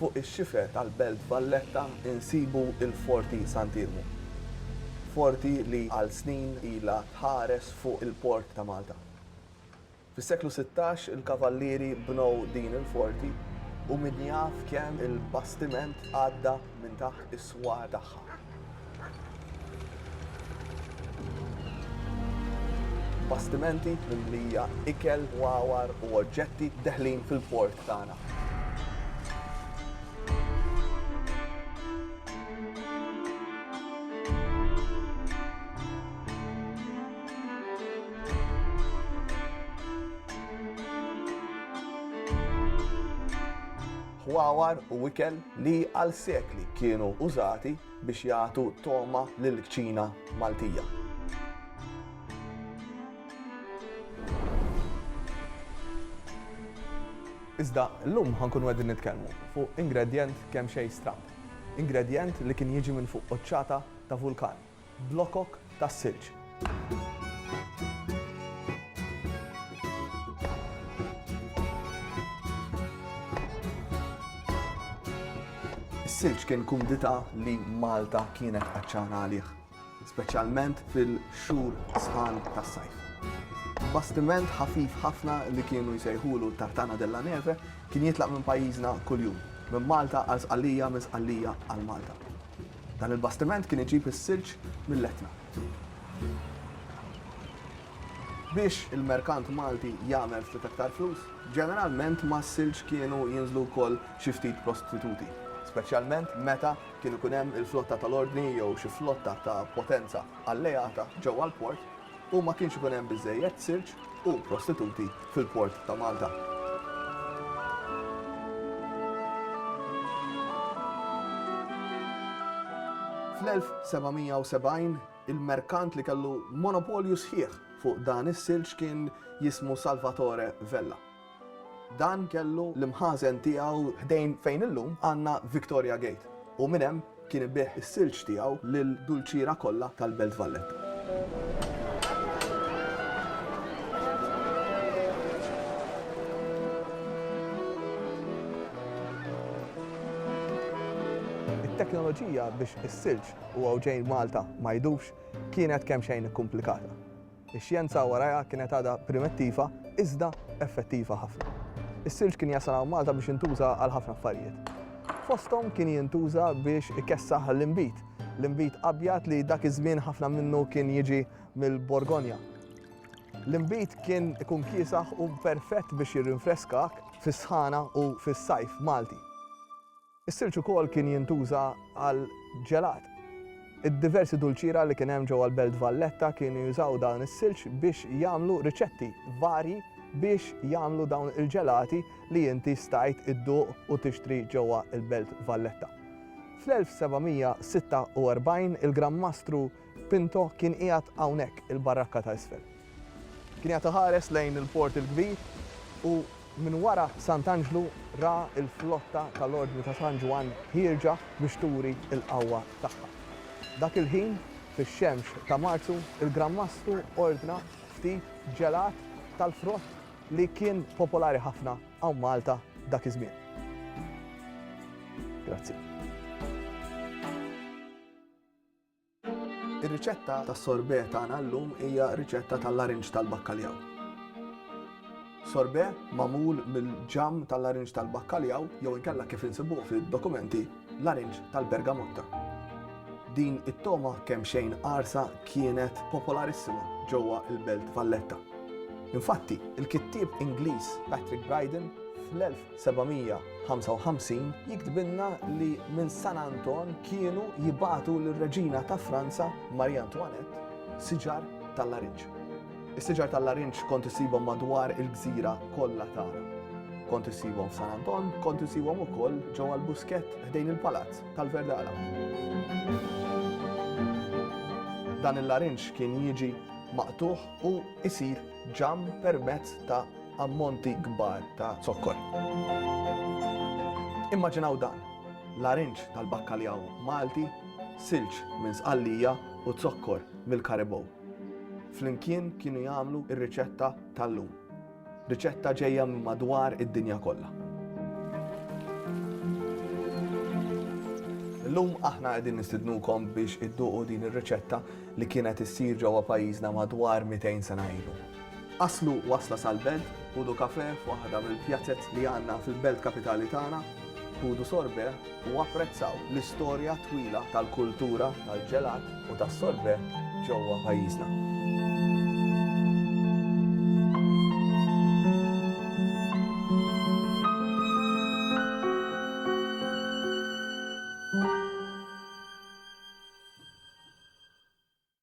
Fuq ix-xifer tal-Belt Valletta nsibu l-Forti Sant'Iermu. Forti li għal snin ilha tħares fuq il-port ta' Malta. Fis-seklu sittax il-Kavallieri bnew din il-forti u min jaf kemm il-bastiment għadda minn taħt is-swar tagħha. Bastimenti mimlija ikel, wawar u oġġetti deħlin fil-port tagħna. Ħwawar u ikel li għal sekli kienu użati biex jagħtu togħma lill-kċina Maltija. Iżda llum ħa nkunu qegħdin nitkellmu fuq ingredjent kemxejn stramb. Ingredjent li kien jiġi minn fuq quċċata ta' vulkan. Blokok tas-silġ. Is-silġ kien kumdità li Malta kienet għatxana għalih, speċjalment fil-xhur sħan tas-sajf. Bastiment ħafif ħafna li kienu jsejħulu Tartana della Neve kien jitlaq minn pajjiżna kuljum, minn Malta għal Sqallija, minn Sqallija għal Malta. Dan il-bastiment kien iġib is-silġ mill-Etna biex il-merkant Malti jagħmel ftit aktar flus. Ġeneralment mas-silġ kienu jinżlu wkoll xi ftit prostituti, speċjalment meta kien ikun hemm il-flotta tal-Ordni jew xi flotta ta' potenza alleata ġewwa l-port. u ma kienx ikun hemm biżżejjed silġ u prostituti fil-port ta' Malta. Fl-1770, il-merkant li kellu monopolju sħiħ fuq dan is-silġ kien jismu Salvatore Vella. Dan kellu l-imħażen tiegħu ħdejn fejn illum għandna Victoria Gate u minn hemm kien ibigħ is-silġ tiegħu lill-dulċiera kollha tal-Belt Valletta. It-teknoloġija biex is-silġ u għawġejn Malta ma jidubx kienet kemxejn ikkumplikata. Ix-xjenza warajha kienet għadha primettiva iżda effettiva ħafna. Is-silġ kien jasal hawn Malta biex jintuża għal ħafna affarijiet. Fosthom kien jintuża biex ikessaħ l-inbid, l-inbid abjad li dak iż-żmien ħafna minnu kien jiġi mill-Borgonja. L-inbid kien ikun kiesaħ u perfett biex jirrinfreskak fis-sħana u fis-sajf Malti. Is-silġ ukoll kien jintuża għal ġelat. Id-diversi dulċiera li kien hemm ġewwa l-Belt Valletta kienu jużaw dan is-silġ biex jagħmlu riċetti varji biex jagħmlu dawn il-ġelati li inti stajt idduq u tixtri ġewwa l-Belt Valletta. Fl-1746 il-Gran Mastru Pinto kien qiegħed hawnhekk, il-barrakka ta' isfel. Kien qiegħed iħares lejn il-Port il-Kbir u minn wara Sant' Anġlu ra l-flotta tal-Ordni ta' San Ġwann ħierġa biex turi l-qawwa tagħha. Dak il-ħin, fix-xemx ta' Marzu, il-Gran Mastru ordna ftit ġelat tal-frott li kien popolari ħafna hawn Malta dak iż-żmien. Grazzi. Ir-riċetta tas-sorbet tagħna llum hija riċetta tal-larinġ tal-bakkaljaw. Sorbet magħmul mill-ġamm tal-larinġ tal-bakkaljaw jew inkella kif insibuh fid-dokumenti, larinġ tal-bergamotta. Din it-togħma kemxejn qarsa kienet popolarissima ġewwa l-Belt Valletta. Infatti, il-kittieb Ingliż Patrick Bryden fl-1900 755 jiktbilna li minn San Anton kienu jibagħtu lir-Reġina ta' Franza Marie Antoinette siġar tal-larinġ. Is-siġar tal-larinġ kont issibhom madwar il-gżira kollha tagħna. Kont issibhom f'San Anton, kont issibhom ukoll ġewwa l-buskett ħdejn il-palazz tal-Verdala. Dan il-larinġ kien jiġi maqtugħ u jsir ġamm permezz ta' ammonti kbar ta' zokkor. Immaġinaw dan, larinġ tal-bakkaljaw Malti, silġ minn Sqallija u zokkor mill-Karibow. Flimkien kienu jagħmlu r-riċetta tal-lum. Riċetta ġejja minn madwar id-dinja kollha. Illum aħna qegħdin nistidnukom biex idduqu din ir-riċetta li kienet issir ġewwa pajjiżna madwar 200 sena ilu. Aslu wasla sal-belt, ħudu kafè f'waħda mill-pjazez li għandna fil-belt kapitali tagħna, ħudu sorbet u apprezzaw l-istorja twila tal-kultura tal-ġelat u tas-sorbet ġewwa pajjiżna.